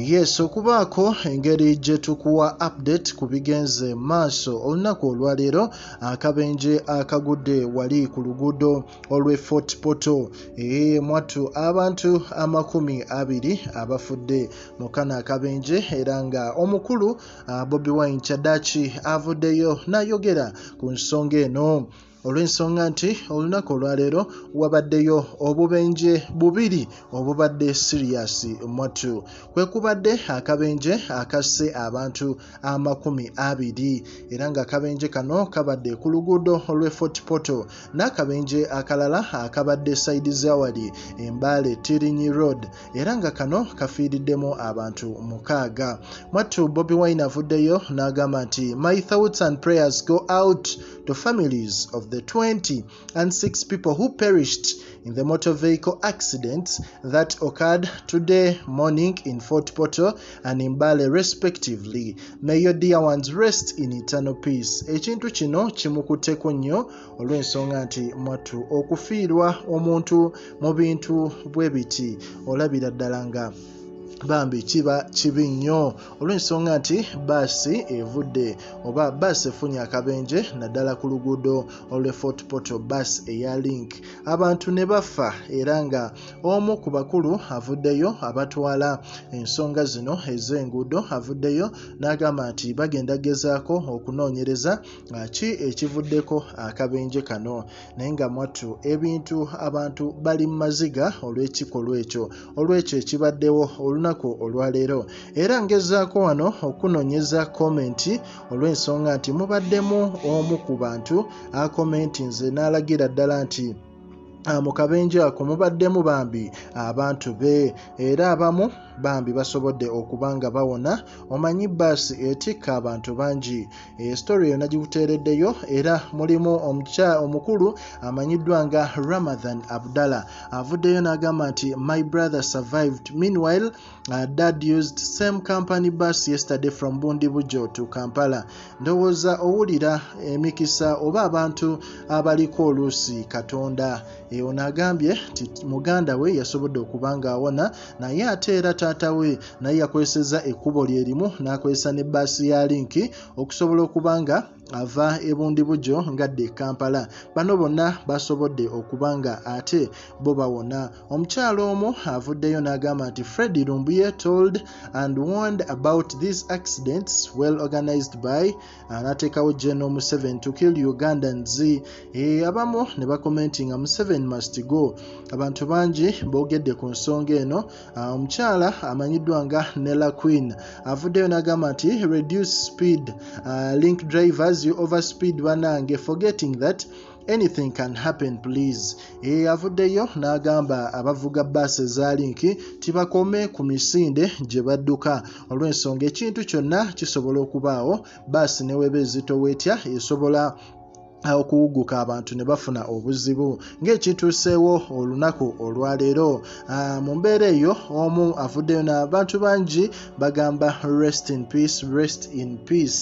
yes okubaako engeri gye tukuwa update ku bigenze maaso olunaku olwaleero akabenje akagudde wali ku luguudo olwe fort poto eyeyemwattu abantu amakumi abiri abafudde mu kano akabenje era nga omukulu bobi wine kyadaki avuddeyo nayogera ku nsonga eno olw'ensonga nti olunaku olwaleero wabaddeyo obubenje bubiri obubadde siriyasi mwattu kwe kubadde akabenje akasse abantu amakumi abiri era ng'akabenje kano kabadde ku luguudo olw'e fort portal n'akabenje akalala akabadde saidi zawali embaale tirinyi road era nga kano kafiiriddemu abantu mukaaga mwattu bobi wine avuddeyo n'agamba nti my thoughts and prayers go out to families of the 20 and 6 people who perished in the motor vehicle accidents that occurred today morning in Fort Portal and in Bale respectively. May your dear ones rest in eternal peace. Ekintu kino kimukuteko nnyo olw'ensonga nti mwattu okufiirwa omuntu mu bintu bwe biti olabira ddala nga bambi kiba kibi nnyo olw'ensonga nti baasi evudde oba baasi efunye akabenje naddala ku luguudo olwe fort portal bus eya link abantu ne bafa era nga omu ku bakulu avuddeyo abatwala ensonga zino ez'enguudo avuddeyo n'agamba nti bagenda gezaako okunoonyereza ki ekivuddeko akabenje kano naye nga mwattu ebintu abantu bali mu maziga olw'ekikolwa ekyo olw'ekyo ekibaddewo olunaku olwaleero era ngezaako wano okunonyeza komenti olw'ensonga nti mubaddemu omu ku bantu akomenti nze n'alagira ddala nti Ah, mu kabenje ako mubaddemu bambi abantu be era abamu bambi basobodde okuba nga bawona omanyi baasi etikka abantu bangi esitori yonna gikuteereddeyo era mulimu omukya omukulu amanyiddwa nga ramathan abdallah avuddeyo n'agamba nti my brother survived meanwhile uh, dad used same company bus yesterday from bundibujo to kampala ndowooza owulira emikisa oba abantu abaliko oluusi katonda eyo naagambye nti muganda we yasobodde okuba ng'awona naye ate era taata we naye yakozesezza ekkubo lye limu n'akozesa ne bbaasi ya linki okusobola okuba nga ava ebundibugyo ngadde e kampala bano bonna basobodde okuba nga ate bo bawona omukyalo omu avuddeyo n'agamba nti fred lumbuye told and warned about these accidents well organized by anatekawo general museven to kill ugandans e, abamu ne bakomenti nga museven must go abantu bangi bogedde ku nsonga eno ah, omukyala amanyiddwa nga nella queen avuddeyo nagamba nti reduce speed uh, link drivers you overspeed banange forgetting that anything can happen please eyavuddeyo eh, n'agamba abavuga baasi ezaali nki tibakome ku misinde gye badduka olw'ensonga ekintu kyonna kisobola okubaawo baasi neweba ezito wetya esobola okuwuguka abantu ne bafuna obuzibu ng'ekituuseewo olunaku olwaleero ah, mu mbeera eyo omu avuddeyo n'abantu bangi bagamba rest in peace rest in peace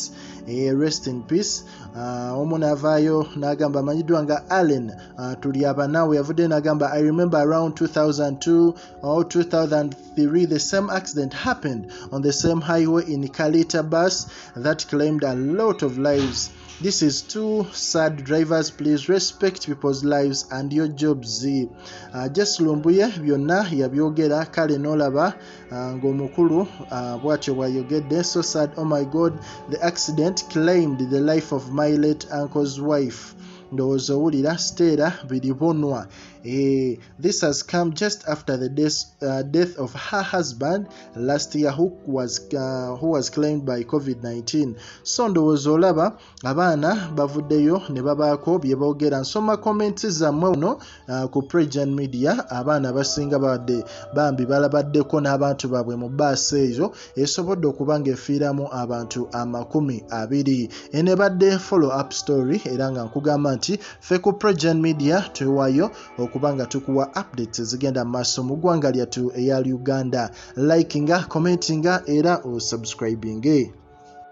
eh, rest in peace Ah, omu navaayo nagamba amanyiddwa nga allen ah, tuli abanawe yavuddeyo nagamba i remember around 2002 or 2003 the same accident happened on the same highway in kalita bus that claimed a lot of lives this is too sad drivers please respect people's lives and your jobs uh, ah, jes lumbuye byonna yabyogera kale nolaba Ah, ng'omukulu ah, bwatyo bwayogedde so sad oh my god the accident claimed the life of my late uncle's wife ndowooza owulira siteera biri bunwa eh, this has come just after the death, uh, death of her husband last year who was, uh, who was claimed by covid-19 so ndowooza olaba abaana bavuddeyo ne babaako bye boogera nsoma comments zammwe uno uh, ku pregian media abaana abasinga babadde bambi balabaddeko n'abantu baabwe mu baasi eyo esobodde okuba ng'efiiramu abantu amakumi abiri eno ebadde follow up story era nga nkugamba nti ffe ku pregian media twewayo okuba nga tukuwa updates ezigenda mu maaso mu ggwanga lyattu eya uganda likinga commentinga era osubscribinge